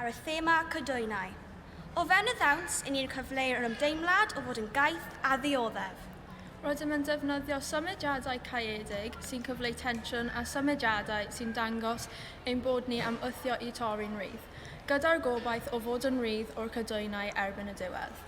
ar y thema cydoenau. O fewn y ddawns, i ni'n cyfleu'r ymdeimlad o fod yn gaeth a ddioddef. Rydym yn defnyddio symudiadau caeedig sy'n cyfleu tensiwn a symudiadau sy'n dangos ein bod ni am wthio i torri'n rhydd. gyda'r gobaith o fod yn rydd o'r cadwynau erbyn y diwedd.